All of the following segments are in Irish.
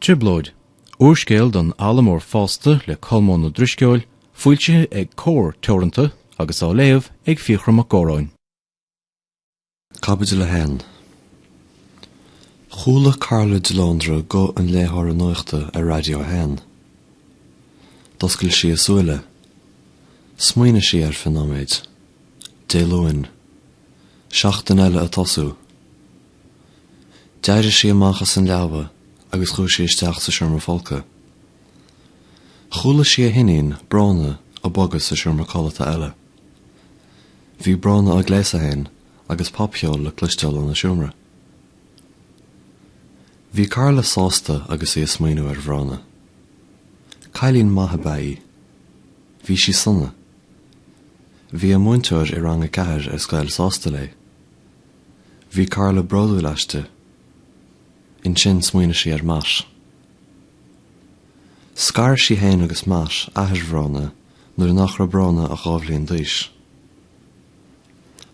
Trioblóid, úrscéal don fhoghlaimeoir fásta le Colmán Ó Drisceoil, foilsithe ag Comhar Teoranta agus á léamh ag Fiachra Mac Góráin. Caibidil 1. Chuala Carla de Lóndra guth an léitheora nuachta ar Radio 1. D'oscail sí a súile. Smaoinigh sí ar feadh nóiméid. Dé Luain. Seachtain eile ag tosú. D'éirigh sí amach as an leaba agus chuaigh sí isteach sa seomra folctha. Chuala sí a hiníon, Bróna, ag bogadh sa seomra codlata eile. Bhí Bróna á gléasadh féin agus popcheol le cloisteáil óna seomra. Bhí Carla sásta agus í ag smaoineamh ar Bhróna. Cailín maith ab ea í. Bhí sí sona. Bhí a múinteoir i rang a ceathair ar scoil sásta léi. Bhí Carla bródúil aisti. Ansin smaoinigh sí ar Matt. Scar sí fhéin agus Matt, athair Bhróna, nuair nach raibh Bróna ach dhá bhliain d'aois.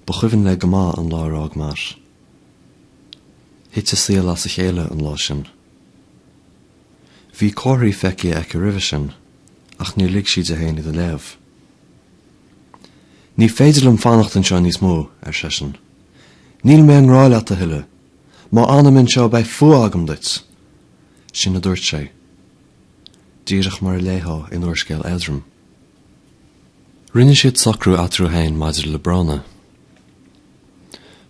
Ba chuimhin léi go maith an lá ar fhág Matt. Thit a saol as a chéile an lá sin. Bhí comharthaí feicthe aici roimhe sin, ach níor lig sí di fhéin iad a léamh. Ní féidir liom fanacht anseo níos mó, ar seisean. Níl mé i ngrá leat a thuilleadh. Má fhanaim anseo beidh fuath agam duit! Sin a dúirt sé. Díreach mar a léifeá in úrscéal éadrom. Rinne siad socrú eatarthu féin maidir le Bróna.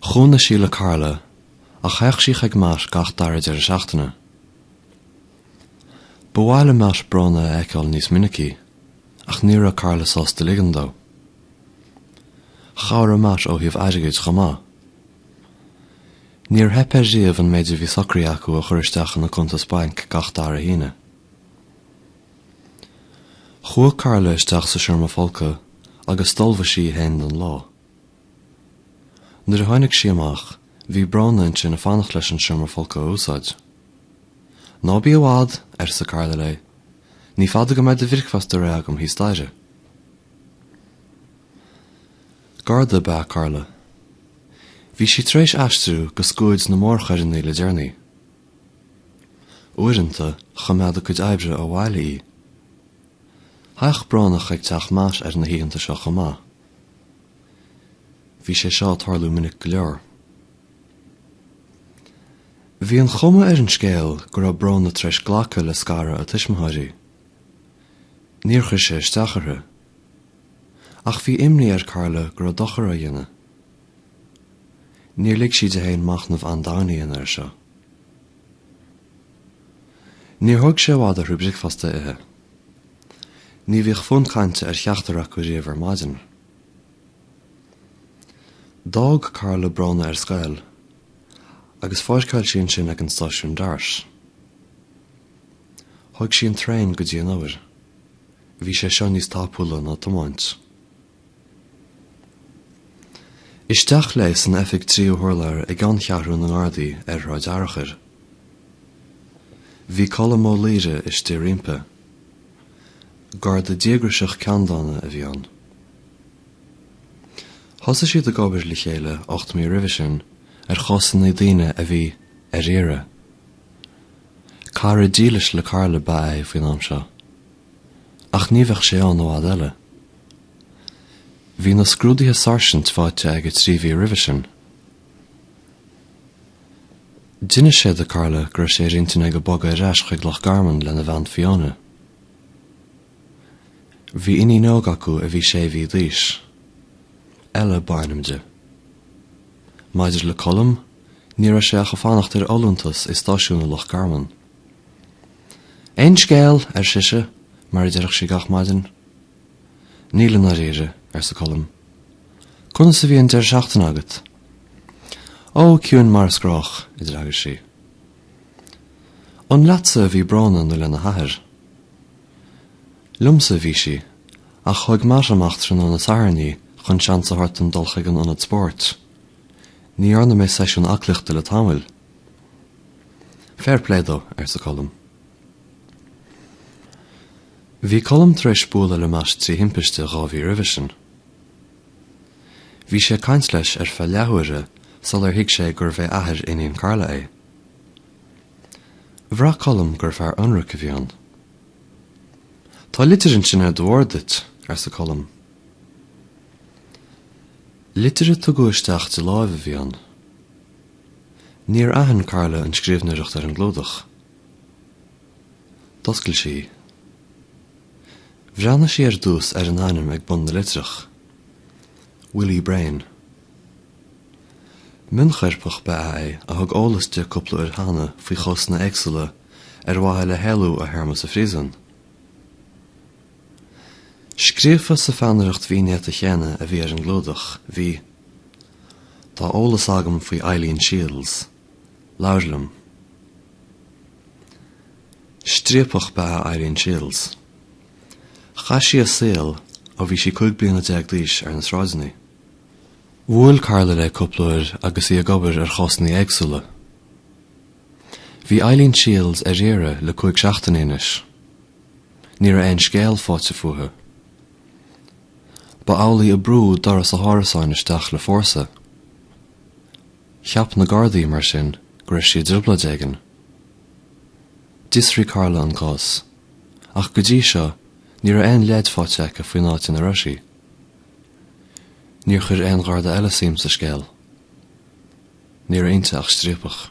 Chónaigh sí le Carla, ach théadh sí chuig Matt gach dara deireadh seachtaine. Ba mhaith le Matt Bróna a fheiceáil níos minicí. Ach ní raibh Carla sásta ligean dó. Chabhraigh Matt ó thaobh airgid chomh maith. Níor theip air riamh an méid a bhí socraithe acu a chur isteach ina cuntas bainc gach dara hAoine. Chuaigh Carla isteach sa seomra folctha agus d'ullmhaigh sí í féin don lá. Nuair a tháinig sí amach, bhí Bróna ansin ag fanacht leis an seomra folctha a úsáid. Ná bí i bhfad, arsa Carla léi. Ní fada go mbeidh do bhricfeasta réidh agam thíos staighre. Garda ab ea Carla. Bhí sí tar éis aistriú go scuaid na mórchoireanna le deireanaí. Uaireanta, choimeád a cuid oibre ó bhaile í. Théadh Bróna chuig teach Matt ar na hoícheanta seo chomh maith. Bhí sé seo ag tarlú minic go leor. Bhí an chuma ar an scéal go raibh Bronagh tar éis glacadh le scaradh a tuismitheoirí. Níor chuir sé isteach uirthi. Ach bhí imní ar Carla go raibh dochar á dhéanamh. Níor lig sí di féin machnamh an-domhain a dhéanamh air seo. Níor thóg sé i bhfad orthu an bricfeasta a ithe. Ní bhíodh fonn cainte ar cheachtar acu riamh ar maidin. D'fhág Carla Bronagh ar scoil agus pháirceáil sí ansin ag an stáisiún Dart. Thóg sí an traein go dtí an obair. Bhí sé seo níos tapúla ná tiomáint. Isteach léi san oifig ar an tríú hurlár i gceanncheathrú na nGardaí ar Shráid Fhearchair. Bhí Colm Ó Laoire istigh roimpi. Garda díograiseach ceanndána a bhí ann. Thosaigh siad ag obair le chéile ocht mí roimhe sin ar chásanna daoine a bhí ar iarraidh. Cara dílis le Carla ba ea é faoin am seo. Ach ní bheadh sé ann i bhfad eile. Bhí na scrúduithe sáirsint faighte aige trí mhí roimhe sin. D'inis sé do Carla go raibh sé ar intinn aige bogadh ar ais chuig Loch Garman lena bhean Fiona. Bhí iníon óg acu a bhí sé mhí d'aois. Ella ba ainm di. Maidir le Colm, ní raibh sé ach ag fanacht ar fholúntas i stáisiún i Loch Garman. Aon scéal? ar sise, mar a deireadh sí gach maidin. Níl i ndáiríre, arsa Colm. Conas a bhí an deireadh seachtaine agat? Ó, ciúin mar is gnách, a d'fhreagair sí. An leatsa a bhí Bronagh nó lena hathair? Liomsa a bhí sí, ach thóg Matt amach tráthnóna Sathairn í chun seans a thabhairt dom dul chuig an ionad spóirt. Ní dhearna mé seisiún aclaíochta le tamall. Fair play dó, arsa Colm. Bhí Colm tar éis bualadh le Matt trí thimpiste dhá mhí roimhe sin. Bhí sé ag caint leis ar feadh leathuaire sular thuig sé gurbh é athair iníne Carla é. Bhraith Colm gur fear ionraic a bhí ann. Tá litir ansin ar do bhord duit, arsa Colm. Litir a tugadh isteach de láimh a bhí ann. Níor aithin Carla an scríobhnoireacht ar an gclúdach. D'oscail sí í. Bhreathnaigh sí ar dtús ar an ainm ag bun na litreach. Willie Brain. Mionchoirpeach ba ea é a thug eolas di cúpla uair cheana faoi chásanna éagsúla ar mhaithe le héalú ó théarma sa phríosún. Scríofa sa pheannaireacht mhín néata chéanna a bhí ar an gclúdach, bhí. Tá eolas agam faoi Eileen Shields. Labhair liom. Striapach ba ea Eileen Shields. Chaith sí a saol ó bhí sí cúig bliana déag d'aois ar na sráideanna. Bhuail Carla léi cúpla uair agus í ag obair ar chásanna éagsúla. Bhí Eileen Shields ar iarraidh le cúig seachtainí anois. Ní raibh aon scéal faighte fúithi. Ba amhlaidh a brúdh doras a hárasáin isteach le fórsa. Cheap na Gardaí, mar sin, go raibh sí i dtrioblóid éigin. D'fhiosraigh Carla an cás, ach go dtí seo, ní raibh aon leid faighte aici faoin áit ina raibh sí. Níor chuir aon Gharda eile suim sa scéal. Ní raibh inti ach striapach.